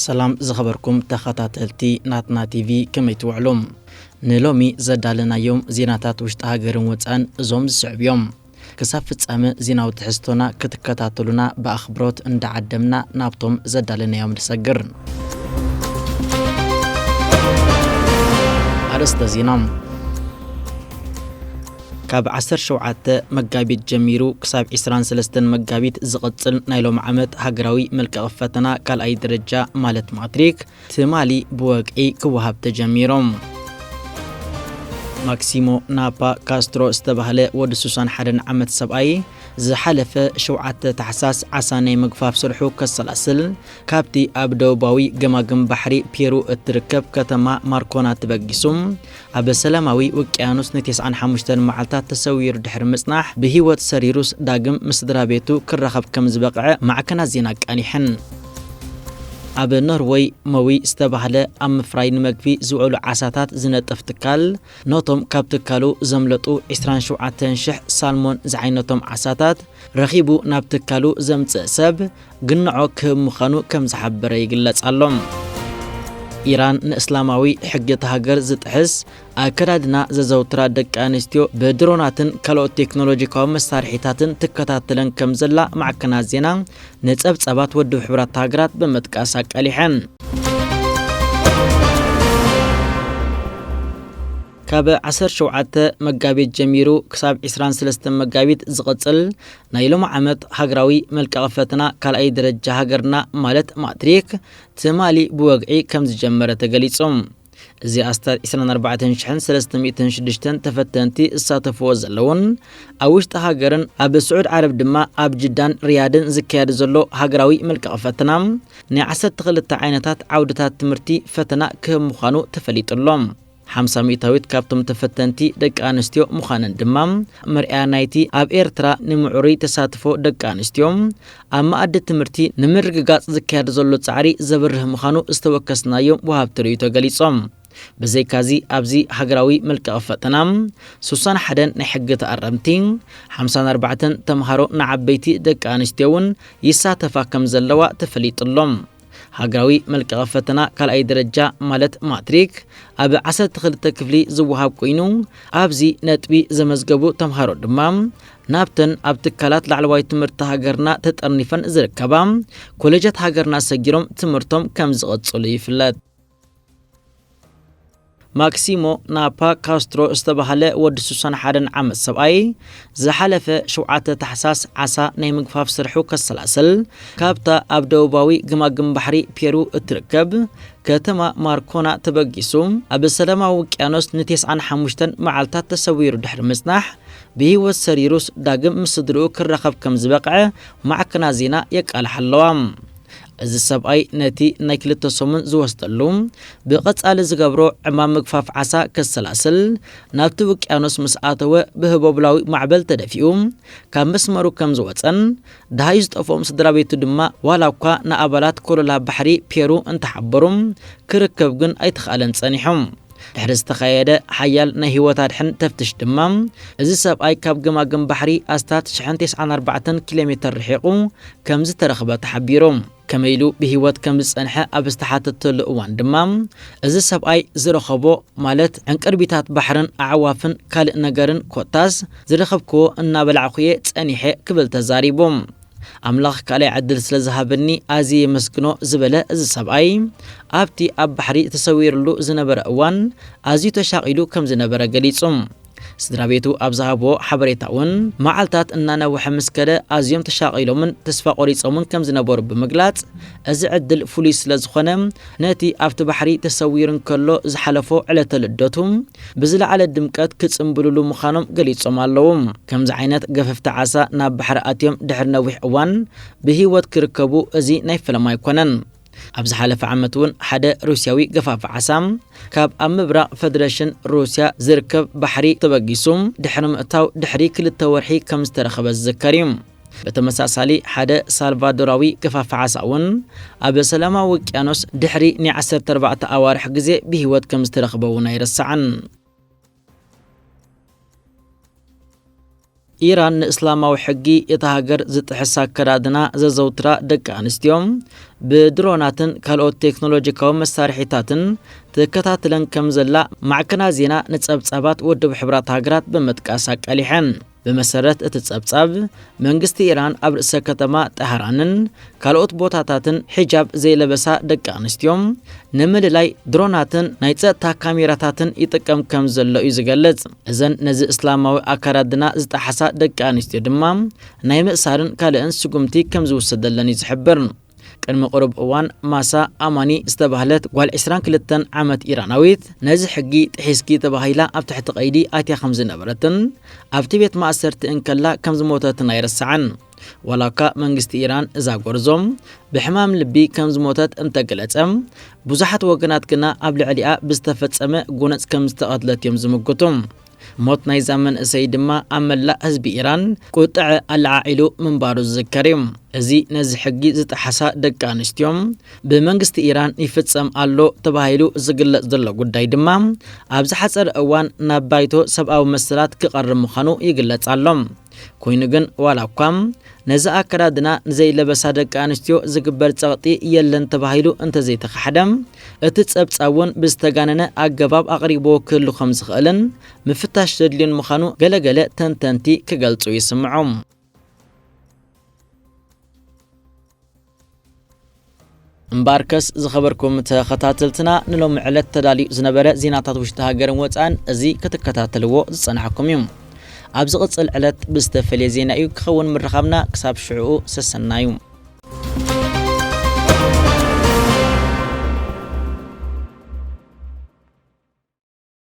ሰላም ዝኸበርኩም ተኸታተልቲ ናትና ቲቪ ከመይ ትውዕሉ ንሎሚ ዘዳለናዮም ዜናታት ውሽጢ ሃገርን ወፃን እዞም ዝስዕብ እዮም ክሳብ ፍጻመ ዜናዊ ትሕዝቶና ክትከታተሉና ብኣኽብሮት እንዳዓደምና ናብቶም ዘዳለናዮም ንሰግር ኣርእስተ ዜና ካብ ዓሰርተ ሸውዓተ መጋቢት ጀሚሩ ክሳብ ዕስራን ሰለስተን መጋቢት ዝቕጽል ናይ ሎሚ ዓመት ሃገራዊ መልቀቒ ፈተና ካልኣይ ደረጃ ማለት ማትሪክ ትማሊ ብወግዒ ክወሃብ ተጀሚሩ። ማክሲሞ ናፓ ካስትሮ ዝተባህለ ወዲ 61 ዓመት ሰብኣይ ዝሓለፈ ሸውዓተ ታሕሳስ ዓሳ ናይ ምግፋፍ ስርሑ ከሰላስል ካብቲ ኣብ ደቡባዊ ገማግም ባሕሪ ፔሩ እትርከብ ከተማ ማርኮና ተበጊሱ ኣብ ሰላማዊ ውቅያኖስ ንቴስዓን ሓሙሽተን መዓልታት ተሰዊሩ ድሕሪ ምጽናሕ፣ ብህይወት ሰሪሩስ ዳግም ምስ ስድራቤቱ ክራኸብ ከም ዝበቕዐ ማዕከናት ዜና ኣቃሊሐን። ኣብ ኖርወይ ሞዊ ዝተባህለ ኣብ ምፍራይ ንመግቢ ዝውዕሉ ዓሳታት ዝነጥፍ ትካል፣ ነቶም ካብ ትካሉ ዘምለጡ ዕስራን ሸውዓተን ሽሕ ሳልሞን ዝዓይነቶም ዓሳታት ረኺቡ ናብ ትካሉ ዘምጽእ ሰብ ግንዖ ክህብ ምዃኑ ከም ዝሓበረ ይግለጽ ኣሎ። ኢራን ንእስላማዊ ሕጊ እታ ሃገር ዝጥሕስ ኣከዳድና ዘዘውትራ ደቂ ኣንስትዮ ብድሮናትን ካልኦት ቴክኖሎጂካዊ መሳርሒታትን ትከታተለን ከም ዘላ ማዕከናት ዜና ንጸብጻባት ውድብ ሕብራት ሃገራት ብምጥቃስ ኣቃሊሐን። ካብ ዓሰርተ ሸውዓተ መጋቢት ጀሚሩ ክሳብ ዕስራን ሰለስተን መጋቢት ዝቕጽል ናይ ሎሚ ዓመት ሃገራዊ መልቀቒ ፈተና ካልኣይ ደረጃ ሃገርና ማለት ማትሪክ ትማሊ ብወግዒ ከምዝጀመረ ተገሊጹ። እዚ ኣስታት ዕስራን ኣርባዕተን ሽሕን ሰለስተ ሚእትን ሽዱሽተን ተፈተንቲ ዝሳተፍዎ ዘለዉን ኣብ ውሽጢ ሃገርን ኣብ ስዑድ ዓረብ ድማ ኣብ ጅዳን ሪያድን ዝካየድ ዘሎ ሃገራዊ መልቀቒ ፈተና ናይ ዓሰርተ ክልተ ዓይነታት ዓውድታት ትምህርቲ ፈተና ክህብ ምዃኑ ተፈሊጡ ኣሎ። ሓምሳ ሚእታዊት ካብቶም ተፈተንቲ ደቂ ኣንስትዮ ምዃነን ድማ መርኣያ ናይቲ ኣብ ኤርትራ ንምዕሩይ ተሳትፎ ደቂ ኣንስትዮ ኣብ መኣዲ ትምህርቲ ንምርግጋጽ ዝካየድ ዘሎ ጻዕሪ ዘብርህ ምዃኑ ዝተወከስናዮም ወሃብቲ ርእይቶ ገሊጾም። ብዘይካዚ ኣብዚ ሃገራዊ መልቀቒ ፈተና ስሳን ሓደን ናይ ሕጊ ተኣረምቲ፣ ሓምሳን ኣርባዕተን ተምሃሮ ንዓበይቲ ደቂ ኣንስትዮ'ውን ይሳተፋ ከምዘለዋ ተፈሊጡ ኣሎ። ሃገራዊ መልቀቐ ፈተና ካልኣይ ደረጃ ማለት ማትሪክ ኣብ 12 ክፍሊ ዝወሃብ ኮይኑ ኣብዚ ነጥቢ ዘመዝገቡ ተምሃሮ ድማ ናብተን ኣብ ትካላት ላዕለዋይ ትምህርቲ ሃገርና ተጠርኒፈን ዝርከባ ኮሌጃት ሃገርና ሰጊሮም ትምህርቶም ከም ዝቐጽሉ ይፍለጥ። ማክሲሞ ናፓ ካስትሮ ዝተባህለ ወዲ 61 ዓመት ሰብኣይ ዝሓለፈ ሸውዓተ ታሕሳስ ዓሳ ናይ ምግፋፍ ስርሑ ከሰላስል ካብታ ኣብ ደቡባዊ ግማግም ባሕሪ ፔሩ እትርከብ ከተማ ማርኮና ተበጊሱ ኣብ ሰላማዊ ውቅያኖስ ን95 መዓልታት ተሰዊሩ ድሕሪ ምጽናሕ ብህይወት ሰሪሩስ ዳግም ምስ ስድርኡ ክራኸብ ከም ዝበቕዐ ማዕከና ዜና የቃልሓ ኣለዋ። እዚ ሰብኣይ ነቲ ናይ ክልተ ሰሙን ዝወስደሉ ብቐጻሊ ዝገብሮ ዕማም ምግፋፍ ዓሳ ከሰላስል ናብቲ ውቅያኖስ ምስ ኣተወ ብህቦብላዊ ማዕበል ተደፊኡ ካብ መስመሩ ከም ዝወጸን ደሃዩ ዝጠፍኦም ስድራቤቱ ድማ ዋላ እኳ ንኣባላት ኮለላ ባሕሪ ፔሩ እንተሓበሩ ክርከብ ግን ኣይተኻእለን ጸኒሑ። ድሕሪ ዝተኻየደ ሓያል ናይ ህይወት ኣድሕን ተፍትሽ ድማ እዚ ሰብኣይ ካብ ገማግም ባሕሪ ኣስታት 94 ኪሎ ሜተር ርሒቑ ከም ዝተረኽበ ተሓቢሩ። ከመይ ኢሉ ብህይወት ከም ዝጸንሐ ኣብ ዝተሓተተሉ እዋን ድማ እዚ ሰብኣይ ዝረኸቦ ማለት ዕንቅርቢታት ባሕርን ኣዕዋፍን ካልእ ነገርን ኮታስ ዝረኸብክዎ እናበላዕኹ'የ ጸኒሐ ክብል ተዛሪቡ። ኣምላኽ ካልኣይ ዕድል ስለ ዝሃበኒ ኣዝየ የመስግኖ ዝበለ እዚ ሰብኣይ፣ ኣብቲ ኣብ ባሕሪ ተሰዊሩሉ ዝነበረ እዋን ኣዝዩ ተሻቒሉ ከም ዝነበረ ገሊጹ። ስድራቤቱ ኣብ ዝሃብዎ ሓበሬታ'ውን፣ መዓልታት እናነውሐ ምስ ከደ ኣዝዮም ተሻቒሎምን ተስፋ ቈሪጾምን ከም ዝነበሩ ብምግላጽ፣ እዚ ዕድል ፍሉይ ስለ ዝኾነ፣ ነቲ ኣብቲ ባሕሪ ተሰዊሩ እንከሎ ዝሓለፎ ዕለተ ልደቱ ብዝለዓለ ድምቀት ክጽምብልሉ ምዃኖም ገሊጾም ኣለዉ። ከምዚ ዓይነት ገፈፍቲ ዓሳ ናብ ባሕሪ ኣትዮም ድሕሪ ነዊሕ እዋን ብህይወት ክርከቡ እዚ ናይ ፈለማ ኣይኮነን። ኣብ ዝሓለፈ ዓመት እውን ሓደ ሩስያዊ ገፋፊ ዓሳ ካብ ኣብ ምብራቕ ፈደረሽን ሩስያ ዝርከብ ባሕሪ ተበጊሱ ድሕሪ ምእታው ድሕሪ ክልተ ወርሒ ከም ዝተረኸበ ዝዝከር እዩ። ብተመሳሳሊ ሓደ ሳልቫዶራዊ ገፋፊ ዓሳ እውን ኣብ ሰላማዊ ውቅያኖስ ድሕሪ ናይ ዓሰርተ ኣርባዕተ ኣዋርሕ ግዜ ብህይወት ከም ዝተረኽበ እውን ኣይረሳዕን። ኢራን ንእስላማዊ ሕጊ እታ ሃገር ዝጥሕስ ኣከዳድና ዘዘውትራ ደቂ ኣንስትዮ ብድሮናትን ካልኦት ቴክኖሎጂካዊ መሳርሒታትን ትከታትለን ከም ዘላ ማዕከናት ዜና ንጸብጻባት ውድብ ሕብራት ሃገራት ብምጥቃስ ኣቃሊሐን። ብመሰረት እቲ ጸብጻብ፣ መንግስቲ ኢራን ኣብ ርእሰ ከተማ ጣህራንን ካልኦት ቦታታትን ሒጃብ ዘይለበሳ ደቂ ኣንስትዮ ንምልላይ ድሮናትን ናይ ጸጥታ ካሜራታትን ይጥቀም ከም ዘሎ እዩ ዝገልጽ። እዘን ነዚ እስላማዊ ኣከዳድና ዝጠሓሳ ደቂ ኣንስትዮ ድማ ናይ ምእሳርን ካልእን ስጉምቲ ከም ዝውሰደለን እዩ ዝሕብር። ቅድሚ ቅሩብ እዋን ማሳ ኣማኒ ዝተባህለት ጓል ዕስራን ክልተን ዓመት ኢራናዊት ነዚ ሕጊ ጥሒስኪ ተባሂላ ኣብ ትሕቲ ቀይዲ ኣትያ ከም ዝነበረትን ኣብቲ ቤት ማእሰርቲ እንከላ ከም ዝሞተትን ኣይርሳዕን። ዋላ እኳ መንግስቲ ኢራን እዛ ጎርዞ ብሕማም ልቢ ከም ዝሞተት እንተገለጸ፣ ብዙሓት ወገናት ግና ኣብ ልዕሊኣ ብዝተፈጸመ ጎነጽ ከም ዝተቐትለት እዮም ዝምጉቱ። ሞት ናይዛ መንእሰይ ድማ ኣብ መላእ ህዝቢ ኢራን ቁጠዐ ኣለዓዒሉ ምንባሩ ዝዝከር እዩ። እዚ ነዚ ሕጊ ዝጠሓሳ ደቂ ኣንስትዮ ብመንግስቲ ኢራን ይፍጸም ኣሎ ተባሂሉ ዝግለጽ ዘሎ ጉዳይ ድማ ኣብ ዝሓጸረ እዋን ናብ ባይቶ ሰብኣዊ መሰላት ክቐርብ ምዃኑ ይግለጽ ኣሎ። ኮይኑ ግን ዋላ እኳ ነዚ ኣከዳድና ንዘይለበሳ ደቂ ኣንስትዮ ዝግበር ጸቕጢ የለን ተባሂሉ እንተዘይተኻሕደ፣ እቲ ጸብጻብ እውን ብዝተጋነነ ኣገባብ ኣቕሪብዎ ክህሉ ከም ዝኽእልን ምፍታሽ ዘድልዮን ምዃኑ ገለ ገለ ተንተንቲ ክገልጹ ይስምዑ። እምበኣርከስ ዝኸበርኩም ተኸታተልትና ንሎሚ ዕለት ተዳልዩ ዝነበረ ዜናታት ውሽጢ ሃገርን ወፃእን እዚ ክትከታተልዎ ዝፀናሕኩም እዩ ኣብ ዝቕፅል ዕለት ብዝተፈለየ ዜና እዩ ክኸውን ምርኻብና ክሳብ ሽዕኡ ሰሰናዩ